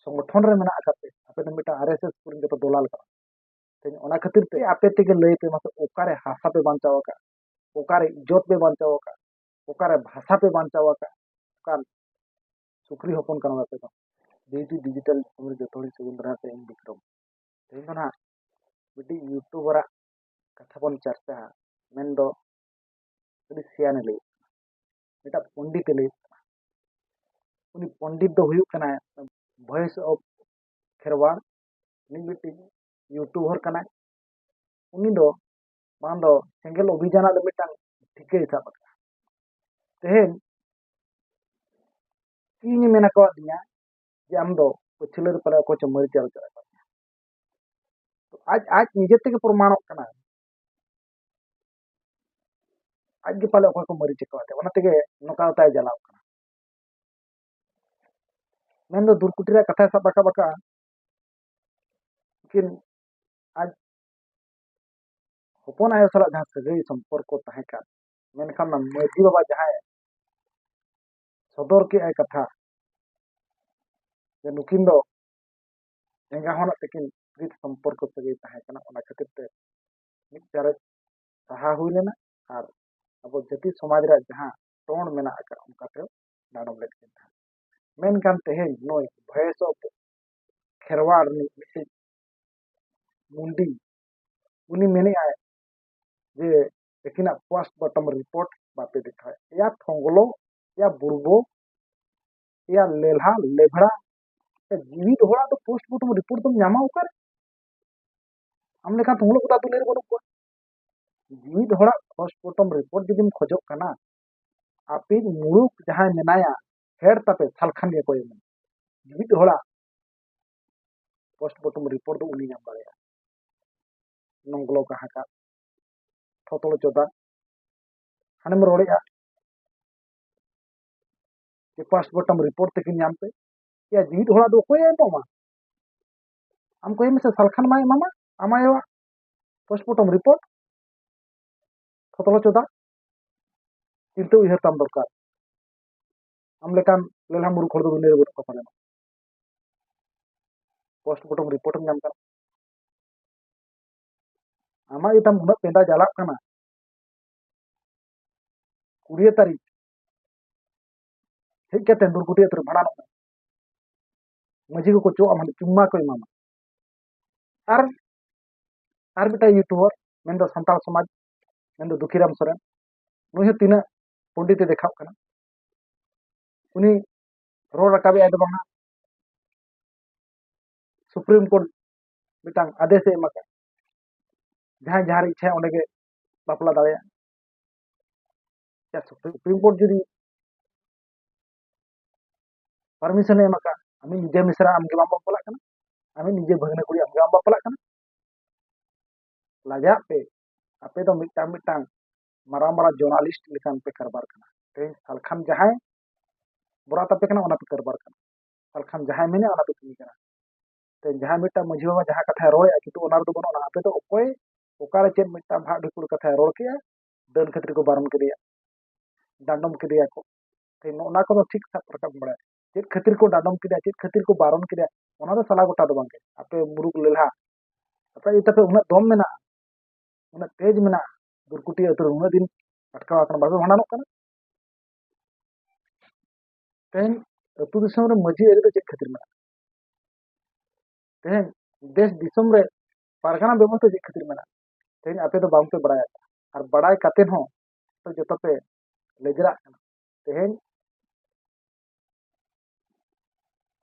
ᱥᱚᱝᱜᱚᱴᱷᱚᱱ ᱨᱮ ᱢᱮᱱᱟᱜ ᱟᱠᱟᱫ ᱯᱮ ᱟᱯᱮ ᱫᱚ ᱢᱤᱫᱴᱟᱝ ᱟᱨ ᱮᱥ ᱮᱥ ᱠᱚᱨᱮᱱ ᱡᱚᱛᱚ ᱫᱚᱞᱟᱞ ᱠᱟᱱᱟ ᱛᱮᱦᱮᱧ ᱚᱱᱟ ᱠᱷᱟᱹᱛᱤᱨ ᱛᱮ ᱟᱯᱮ ᱛᱮᱜᱮ ᱞᱟᱹᱭ ᱯᱮ ᱢᱟᱥᱮ ᱚᱠᱟᱨᱮ ᱦᱟᱥᱟ ᱯᱮ ᱵᱟᱧᱪᱟᱣ ᱟᱠᱟᱫ ᱚᱠᱟᱨᱮ ᱤᱡᱽᱡᱚᱛ ᱯᱮ ᱵᱟᱧᱪᱟᱣ ᱟᱠᱟᱫ ᱚᱠᱟᱨᱮ ᱵᱷᱟᱥᱟ ᱯᱮ ᱵᱟᱧᱪᱟᱣ ᱟᱠᱟᱫ ᱚᱠᱟᱱ ᱥᱩᱠᱨᱤ ᱦᱚᱯᱚᱱ ᱠᱟᱱᱟ ᱟᱯᱮ ᱫᱚ ᱡᱮᱦᱮᱛᱩ ᱰᱤᱡᱤᱴᱟᱞ ᱫᱤᱥᱚᱢ ᱨᱮ ᱡᱚᱛᱚ ᱦᱚᱲ ᱥᱟᱹᱜᱩᱱ ᱫᱟᱨᱟᱢ ᱯᱮ ᱤᱧ ᱵᱤᱠᱨᱚᱢ ᱛᱮᱦᱮᱧ ᱫᱚ ᱱᱟᱦᱟᱜ ᱢᱤᱫᱴᱤᱡ ᱤᱭᱩᱴᱩᱵᱟᱨᱟᱜ ᱠᱟᱛᱷᱟ ᱵᱚᱱ ᱪᱟᱨᱪᱟᱜᱼᱟ ᱢᱮᱱᱫᱚ ᱟᱹᱰᱤ ᱥᱮᱭᱟᱱᱮ ᱞᱟᱹᱭ ᱢᱤᱫᱴᱟᱝ ᱯᱚᱱᱰᱤᱛ ᱮ ᱞᱟᱹᱭ ᱠᱟᱱᱟ ᱩᱱᱤ ᱯᱚᱱᱰᱤᱛ ᱫᱚ ᱦᱩᱭᱩᱜ ᱠᱟᱱᱟᱭ ᱵᱷᱚᱭᱮᱥ ᱚᱯᱷ ᱠᱷᱮᱨᱣᱟᱲ ᱩᱱᱤ ᱢᱤᱫᱴᱤᱡ ᱤᱭᱩᱴᱩᱵᱟᱨ ᱠᱟᱱᱟᱭ ᱩᱱᱤ ᱫᱚ ᱵᱟᱝ ᱫᱚ ᱥᱮᱸᱜᱮᱞ ᱚᱵᱷᱤᱡᱟᱱ ᱨᱮᱱᱟᱜ ᱫᱚ ᱢᱤᱫᱴᱟᱝ ᱴᱷᱤᱠᱟᱹᱭ ᱥᱟᱵ ᱟᱠᱟᱫᱟ ᱛᱮᱦᱮᱧ ᱤᱧ ᱢᱮᱱ ᱟᱠᱟᱣᱟᱫ ᱫᱤᱧᱟ ᱡᱮ ᱟᱢ ᱫᱚ ᱯᱟᱹᱪᱷᱞᱟᱹ ᱨᱮ ᱯᱟᱞᱮ ᱚᱠᱚᱭ ᱪᱚ ᱢᱟᱹᱨᱤᱪ ᱟᱞᱚ ᱪᱟᱞᱟᱜ ᱠᱟᱱᱟ ᱟᱡ ᱟᱡ ᱱᱤᱡᱮ ᱛᱮᱜᱮ ᱯᱨᱚᱢᱟᱬᱚᱜ ᱠᱟᱱᱟ ᱟᱡ ᱜᱮ ᱯᱟᱞᱮ ᱚᱠᱚᱭ ᱠᱚ ᱢᱟᱹᱨᱤᱪ ᱟᱠᱟᱫ ᱚᱱᱟ ᱛᱮᱜᱮ ᱱᱚᱝᱠᱟ ᱛᱟᱭ ᱡᱟᱞᱟᱣ ᱠᱟᱱᱟ ᱢᱮᱱᱫᱚ ᱫᱩᱨᱠᱩᱴᱤ ᱨᱮᱭᱟᱜ ᱠᱟᱛᱷᱟᱭ ᱥᱟᱵ ᱨᱟᱠᱟᱵ ᱟᱠᱟᱫᱼᱟ ᱩᱱᱠᱤᱱ ᱟᱡ ᱦᱚᱯᱚᱱ ᱟᱭᱳ ᱥᱟᱞᱟᱜ ᱡᱟᱦᱟᱸ ᱥᱟᱹᱜᱟᱹᱭ ᱥᱚᱢᱯᱚᱨᱠᱚ ᱛᱟᱦᱮᱸ ᱠᱟᱱ ᱢᱮᱱᱠᱷᱟᱱ ᱚᱱᱟ ᱢᱟᱹᱡᱷᱤ ᱵᱟᱵᱟ ᱡᱟᱦᱟᱸᱭ ᱥᱚᱫᱚᱨ ᱠᱮᱫᱼᱟᱭ ᱠᱟᱛᱷᱟ ᱡᱮ ᱱᱩᱠᱤᱱ ᱫᱚ ᱮᱸᱜᱟ ᱦᱚᱱᱟᱜ ᱛᱟᱹᱠᱤᱱ ᱯᱨᱤᱛ ᱥᱚᱢᱯᱚᱨᱠᱚ ᱥᱟᱹᱜᱟᱹᱭ ᱛᱟᱦᱮᱸ ᱠᱟᱱᱟ ᱚᱱᱟ ᱠᱷᱟᱹᱛᱤᱨ ᱛᱮ ᱢᱤᱫ ᱪᱟᱨᱮᱡ ᱥᱟᱦᱟ ᱦᱩᱭ ᱞᱮᱱᱟ ᱟᱨ ᱟᱵᱚ ᱡᱟᱹᱛᱤ ᱥᱚᱢᱟᱡᱽ ᱨᱮᱭᱟᱜ ᱡᱟᱦᱟᱸ ᱴᱚᱱ ᱢᱮᱱᱟᱜ ᱟᱠᱟᱫ ᱚᱱᱠᱟᱛᱮ ᱰᱟᱸᱰᱚᱢ ᱞᱮᱫ ᱠᱤᱱ ᱛᱟᱦᱮᱸᱫ ᱢᱮᱱᱠᱷᱟᱱ ᱛᱮᱦᱮᱧ ᱱᱩᱭ ᱵᱷᱚᱭᱮᱥ ᱚᱯᱷ ᱠᱷᱮᱨᱣᱟᱲ ᱨᱤᱱᱤᱡ ᱢᱤᱫᱴᱤᱡ ᱢᱩᱱᱰᱤ ᱩᱱᱤ ᱢᱮᱱᱮᱫᱼᱟᱭ ᱡᱮ ᱛᱤᱠᱤᱱᱟᱜ ᱯᱳᱥᱴ ᱵᱚᱴᱚᱢ ᱨᱤᱯᱳᱨᱴ ᱵᱟᱯᱮ ᱫᱮᱠᱷᱟᱣᱮᱫ ᱮᱭᱟ ᱯᱷᱚᱝᱜᱞᱚ ᱮᱭᱟ ᱵᱩᱲᱵᱚ ᱮᱭᱟ ᱞᱮᱞᱦᱟ ᱞᱮᱵᱷᱲᱟ ᱡᱤᱣᱤ ᱫᱚᱦᱲᱟ ᱫᱚ ᱯᱳᱥᱴ ᱵᱚᱴᱚᱢ ᱨᱤᱯᱳᱨᱴ ᱫᱚᱢ ᱧᱟᱢᱟ ᱚᱠᱟᱨᱮ ᱟᱢ ᱞᱮᱠᱟᱱ ᱛᱩᱢᱩᱞ ᱠᱚᱫᱟ ᱫᱩᱱᱤᱭᱟᱹ ᱨᱮ ᱵᱟᱹᱱᱩᱜ ᱠᱚᱣᱟ ᱢᱤᱫ ᱦᱚᱲᱟᱜ ᱯᱳᱥᱴᱢᱚᱨᱴᱚᱢ ᱨᱤᱯᱳᱨᱴ ᱡᱩᱫᱤᱢ ᱠᱷᱚᱡᱚᱜ ᱠᱟᱱᱟ ᱟᱯᱮ ᱢᱩᱲᱩᱠ ᱡᱟᱦᱟᱸᱭ ᱢᱮᱱᱟᱭᱟ ᱦᱮᱰ ᱛᱟᱯᱮ ᱥᱟᱞᱠᱷᱟᱱ ᱜᱮ ᱠᱚᱭᱮ ᱢᱮ ᱢᱤᱫ ᱦᱚᱲᱟᱜ ᱯᱳᱥᱴᱢᱚᱨᱴᱚᱢ ᱨᱤᱯᱳᱨᱴ ᱫᱚ ᱩᱱᱤ ᱧᱟᱢ ᱫᱟᱲᱮᱭᱟᱜᱼᱟ ᱱᱚᱝᱜᱞᱚ ᱠᱟᱦᱟᱠᱟ ᱛᱷᱚᱛᱚᱲ ᱪᱚᱫᱟ ᱦᱟᱱᱮᱢ ᱨᱚᱲᱮᱜᱼᱟ ᱯᱟᱥᱯᱳᱨᱴ ᱟᱢ ᱨᱤᱯᱳᱨᱴ ᱛᱮᱠᱤᱱ ᱧᱟᱢ ᱯᱮ ᱭᱟ ᱡᱤᱣᱤᱫ ᱦᱚᱲᱟᱜ ᱫᱚ ᱚᱠᱚᱭᱮ ᱮᱢᱚᱜᱼᱟ ᱟᱢ ᱠᱚᱭ ᱢᱮᱥᱮ ᱥᱟᱞᱠᱷᱟᱱ ᱢᱟᱭ ᱮᱢᱟᱢᱟ ᱟᱢ ᱟᱭᱳᱣᱟᱜ ᱯᱳᱥᱴᱢᱚᱨᱴᱚᱢ ᱨᱤᱯᱳᱨᱴ ᱯᱷᱚᱛᱞᱚ ᱪᱚᱫᱟ ᱪᱤᱱᱛᱟᱹ ᱩᱭᱦᱟᱹᱨ ᱛᱟᱢ ᱫᱚᱨᱠᱟᱨ ᱟᱢ ᱞᱮᱠᱟᱱ ᱞᱮᱞᱦᱟ ᱢᱩᱨᱩᱠ ᱦᱚᱲ ᱫᱚ ᱫᱩᱱᱤᱭᱟᱹ ᱨᱮ ᱵᱟᱹᱱᱩᱜ ᱠᱚᱣᱟ ᱯᱟᱞᱮᱱ ᱯᱳᱥᱴᱢᱚᱨᱴᱚᱢ ᱨᱤᱯᱳᱨᱴ ᱮᱢ ᱧᱟᱢ ᱠᱟᱱᱟ ᱟᱢᱟᱜ ᱜᱮᱛᱟᱢ ᱩᱱᱟᱹᱜ ᱯᱮᱸᱫᱟ ᱡᱟᱞᱟᱜ ᱠᱟᱱᱟ ᱠᱩᱲᱤᱭᱟᱹ ᱛᱟᱹᱨᱤᱠᱷ ᱦᱮᱡ ᱠᱟᱛᱮ ᱫᱩᱨᱜᱩᱴᱤ ᱟᱹᱛᱩ ᱨᱮ ᱵᱷᱟᱸᱰᱟᱱᱚᱜ ᱢᱮ ᱢᱟᱹᱡᱷᱤ ᱠᱚᱠᱚ ᱪᱚᱜ ᱟᱢᱟ ᱪᱩᱢᱢᱟ ᱠᱚ ᱮᱢᱟᱢᱟ ᱟᱨ ᱟᱨ ᱢᱤᱫᱴᱟᱝ ᱤᱭᱩᱴᱩᱵᱟᱨ ᱢᱮᱱᱫᱚ ᱥᱟᱱᱛᱟᱲ ᱥᱚᱢᱟᱡᱽ ᱢᱮᱱᱫᱚ ᱫᱩᱠᱷᱤᱨᱟᱢ ᱥᱚᱨᱮᱱ ᱱᱩᱭ ᱦᱚᱸ ᱛᱤᱱᱟᱹᱜ ᱯᱚᱱᱰᱤᱛ ᱮ ᱫᱮᱠᱷᱟᱣ ᱠᱟᱱᱟ ᱩᱱᱤ ᱨᱚᱲ ᱨᱟᱠᱟᱵᱮᱜᱼᱟᱭ ᱫᱚ ᱵᱟᱝᱟ ᱥᱩᱯᱨᱤᱢ ᱠᱳᱨᱴ ᱢᱤᱫᱴᱟᱝ ᱟᱫᱮᱥ ᱮ ᱮᱢ ᱟᱠᱟᱫ ᱡᱟᱦᱟᱸᱭ ᱡᱟᱦᱟᱸ ᱨᱮ ᱤᱪᱪᱷᱟᱭᱟ ᱚᱸᱰᱮ ᱜᱮ ᱵᱟᱯᱞᱟ ᱫᱟᱲᱮᱭᱟᱜᱼᱟ ᱥᱩᱯᱨᱤᱢ ᱠᱳᱨᱴ ᱡᱩᱫᱤ ᱯᱟᱨᱢᱤᱥᱚᱱᱮ ᱮᱢ ᱟᱠᱟᱫ ᱟᱢᱤᱡ ᱱᱤᱡᱮ ᱢᱤᱥᱨᱟ ᱟᱢ ᱜᱮ ᱵᱟᱢ ᱵᱟᱯᱞᱟᱜ ᱠᱟᱱᱟ ᱟᱢᱤᱡ ᱱᱤᱡᱮ ᱵᱷᱟᱹᱜᱽᱱᱟᱹ ᱠᱩᱲᱤ ᱟᱢ ᱜᱮ ᱵᱟᱢ ᱵᱟᱯᱞᱟᱜ ᱠᱟᱱᱟ ᱞᱟᱡᱟᱜ ᱯᱮ ᱟᱯᱮ ᱫᱚ ᱢᱤᱫᱴᱟᱝ ᱢᱤᱫᱴᱟᱝ ᱢᱟᱨᱟᱝ ᱢᱟᱨᱟᱝ ᱡᱚᱨᱱᱟᱞᱤᱥᱴ ᱞᱮᱠᱟᱱ ᱯᱮ ᱠᱟᱨᱵᱟᱨ ᱠᱟᱱᱟ ᱛᱮᱦᱮᱧ ᱥᱟᱞᱠᱷᱟᱱ ᱡᱟᱦᱟᱸᱭ ᱵᱚᱨᱟᱛ ᱟᱯᱮ ᱠᱟᱱᱟ ᱚᱱᱟ ᱯᱮ ᱠᱟᱨᱵᱟᱨ ᱠᱟᱱᱟ ᱥᱟᱞᱠᱷᱟᱱ ᱡᱟᱦᱟᱸᱭ ᱢᱮᱱᱮ ᱚᱱᱟ ᱯᱮ ᱠᱟᱹᱢᱤ ᱠᱟᱱᱟ ᱛᱮᱦᱮᱧ ᱡᱟᱦᱟᱸᱭ ᱢᱤᱫᱴᱟᱝ ᱢᱟᱹᱡᱷᱤ ᱵᱟᱵᱟ ᱡᱟᱦᱟᱸ ᱠᱟᱛᱷᱟᱭ ᱨᱚᱲᱮᱜᱼᱟ ᱠᱤᱱᱛᱩ ᱚᱱᱟ ᱨᱮᱫᱚ ᱵᱟᱹᱱᱩᱜᱼᱟ ᱟᱯᱮ ᱫᱚ ᱚᱠᱚᱭ ᱚᱠᱟᱨᱮ ᱪᱮᱫ ᱢᱤᱫᱴᱟᱝ ᱵᱷᱟᱜ ᱰᱷᱤᱯᱩᱲ ᱠᱟᱛᱷᱟᱭ ᱨᱚᱲ ᱠᱮᱜᱼᱟ ᱰᱟᱹᱱ ᱠᱷᱟᱹᱛᱤᱨ ᱠᱚ ᱵᱟᱨᱚᱱ ᱠᱮᱫᱮᱭᱟ ᱰᱟᱸᱰᱚᱢ ᱠᱮᱫᱮᱭᱟ ᱠᱚ ᱛᱮᱦᱮᱧ ᱱᱚᱜᱼᱚ ᱱᱟ ᱠᱚᱫᱚ ᱴᱷᱤᱠ ᱥᱟᱵ ᱨᱟᱠᱟᱵ ᱵᱟᱲᱟᱭᱟ ᱪᱮᱫ ᱠᱷᱟᱹᱛᱤᱨ ᱠᱚ ᱰᱟᱰᱚᱢ ᱠᱮᱫᱟ ᱪᱮᱫ ᱠᱷᱟᱹᱛᱤᱨ ᱠᱚ ᱵᱟᱨᱚᱱ ᱠᱮᱫᱟ ᱚᱱᱟ ᱫᱚ ᱥᱟᱞᱟ ᱜᱚᱴᱟ ᱫᱚ ᱵᱟᱝ ᱜᱮ ᱟᱯᱮ ᱢᱩᱨᱩᱠ ᱞᱮᱞᱦᱟ ᱟᱯᱮ ᱤᱭᱟᱹᱛᱮ ᱯᱮ ᱩᱱᱟᱹᱜ ᱫᱚᱢ ᱢᱮᱱᱟᱜᱼᱟ ᱩᱱᱟᱹᱜ ᱛᱮᱡᱽ ᱢᱮᱱᱟᱜᱼᱟ ᱫᱩᱨᱠᱩᱴᱤ ᱟᱹᱛᱩ ᱨᱮ ᱩᱱᱟᱹᱜ ᱫᱤᱱ ᱟᱴᱠᱟᱣ ᱟᱠᱟᱱᱟ ᱵᱟᱯᱮ ᱵᱷᱟᱸᱰᱟᱱᱚᱜ ᱠᱟᱱᱟ ᱛᱮᱦᱮᱧ ᱟᱹᱛᱩ ᱫᱤᱥᱚᱢ ᱨᱮ ᱢᱟᱹᱡᱷᱤ ᱟᱹᱨᱤ ᱫᱚ ᱪᱮᱫ ᱠᱷᱟᱹᱛᱤᱨ ᱢᱮᱱᱟᱜᱼᱟ ᱛᱮᱦᱮᱧ ᱫᱮᱥ ᱫᱤᱥᱚᱢ ᱨᱮ ᱯᱟᱨᱜᱟᱱᱟ ᱵᱮᱵᱚᱥᱛᱷᱟ ᱪᱮᱫ ᱠᱷᱟᱹᱛᱤᱨ ᱢᱮᱱᱟᱜᱼᱟ ᱛᱮᱦᱮᱧ ᱟᱯᱮ ᱫᱚ ᱵᱟᱝᱯᱮ ᱵᱟᱲᱟᱭᱟ ᱟᱨ ᱵᱟᱲᱟᱭ ᱠᱟᱛᱮ ᱦᱚᱸ ᱡᱚᱛᱚ ᱯᱮ ᱞᱮᱡᱽᱨᱟᱜ ᱠᱟᱱᱟ ᱛᱮᱦᱮᱧ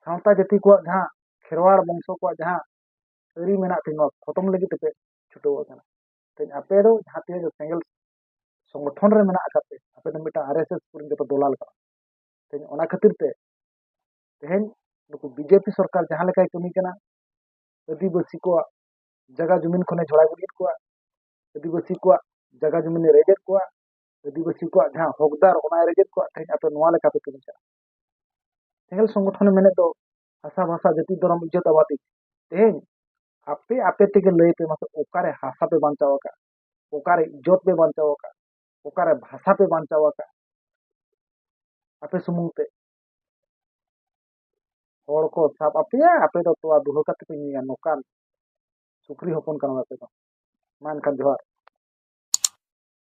ᱥᱟᱶᱛᱟ ᱡᱟᱹᱛᱤ ᱠᱚᱣᱟᱜ ᱡᱟᱦᱟᱸ ᱠᱷᱮᱨᱣᱟᱲ ᱵᱚᱝᱥᱚ ᱠᱚᱣᱟᱜ ᱡᱟᱦᱟᱸ ᱟᱹᱨᱤ ᱢᱮᱱᱟᱜ ᱛᱤᱧ ᱱᱚᱣᱟ ᱠᱷᱚᱛᱚᱢ ᱞᱟᱹᱜᱤᱫ ᱛᱮᱯᱮ ᱪᱷᱩᱴᱟᱹᱣ ᱟᱠᱟᱱᱟ ᱛᱮᱦᱮᱧ ᱟᱯᱮ ᱫᱚ ᱡᱟᱦᱟᱸ ᱛᱤᱱᱟᱹᱜ ᱜᱮ ᱥᱮᱸᱜᱮᱞ ᱥᱚᱝᱜᱚᱴᱷᱚᱱ ᱨᱮ ᱢᱮᱱᱟᱜ ᱟᱠᱟᱫ ᱯᱮ ᱟᱯᱮ ᱫᱚ ᱢᱤᱫᱴᱟᱝ ᱟᱨ ᱮᱥ ᱮᱥ ᱠᱚᱨᱮᱱ ᱡᱚᱛᱚ ᱫᱚᱞᱟᱞ ᱠᱟᱱᱟ ᱛᱮᱦᱮᱧ ᱚᱱᱟ ᱠᱷᱟᱹᱛᱤᱨ ᱛᱮ ᱛᱮᱦᱮᱧ ᱱᱩᱠᱩ ᱵᱤᱡᱮᱯᱤ ᱥᱚᱨᱠᱟᱨ ᱡᱟᱦᱟᱸ ᱞᱮᱠᱟᱭ ᱠᱟᱹᱢᱤ ᱠᱟᱱᱟ ᱟᱹᱫᱤᱵᱟᱹᱥᱤ ᱠᱚᱣᱟᱜ ᱡᱟᱭᱜᱟ ᱡᱩᱢᱤᱱ ᱠᱷᱚᱱᱮ ᱡᱷᱚᱲᱟ ᱜᱤᱰᱤᱭᱮᱫ ᱠᱚᱣᱟ ᱟᱹᱫᱤᱵᱟᱹᱥᱤ ᱠᱚᱣᱟᱜ ᱡᱟᱭᱜᱟ ᱡᱩᱢᱤᱱᱮ ᱨᱮᱡᱮᱫ ᱠᱚᱣᱟ ᱟᱹᱫᱤᱵᱟᱹᱥᱤ ᱠᱚᱣᱟᱜ ᱡᱟᱦᱟᱸ ᱦᱚᱠᱫᱟᱨ ᱚᱱᱟ ᱨᱮᱜᱮᱫ ᱠᱚᱣᱟᱜ ᱛᱮᱦᱮᱧ ᱟᱯᱮ ᱱᱚᱣᱟ ᱞᱮᱠᱟ ᱯᱮ ᱠᱟᱹᱢᱤ ᱠᱟᱱᱟ ᱥᱮᱸᱜᱮᱞ ᱥᱚᱝᱜᱚᱴᱷᱚᱱ ᱢᱮᱱᱮᱫ ᱫᱚ ᱦᱟᱥᱟ ᱵᱷᱟᱥᱟ ᱡᱟᱹᱛᱤ ᱫᱷᱚᱨᱚᱢ ᱤᱡᱡᱚᱛ ᱟᱵᱟᱫᱤ ᱛᱮᱦᱮᱧ ᱟᱯᱮ ᱟᱯᱮ ᱛᱮᱜᱮ ᱞᱟᱹᱭ ᱯᱮ ᱢᱟᱥᱮ ᱚᱠᱟᱨᱮ ᱦᱟᱥᱟ ᱯᱮ ᱵᱟᱧᱪᱟᱣ ᱟᱠᱟᱫ ᱚᱠᱟᱨᱮ ᱤᱡᱡᱚᱛ ᱯᱮ ᱵᱟᱧᱪᱟᱣ ᱟᱠᱟᱫ ᱚᱠᱟᱨᱮ ᱵᱷᱟᱥᱟ ᱯᱮ ᱵᱟᱧᱪᱟᱣ ᱟᱠᱟᱫ ᱟᱯᱮ ᱥᱩᱢᱩᱝ ᱛᱮ ᱦᱚᱲ ᱠᱚ ᱥᱟᱵ ᱟᱯᱮᱭᱟ ᱟᱯᱮ ᱫᱚ ᱛᱚᱣᱟ ᱫᱩᱦᱟᱹ ᱠᱟᱛᱮ ᱯᱮ ᱧᱩᱭᱟ ᱱᱚᱝᱠᱟᱱ ᱥᱩᱠᱨᱤ ᱦᱚᱯᱚᱱ ᱠᱟᱱᱟ ᱟᱯᱮ ᱫᱚ ᱢᱟ ᱮᱱᱠᱷᱟᱱ ᱡᱚᱦᱟᱨ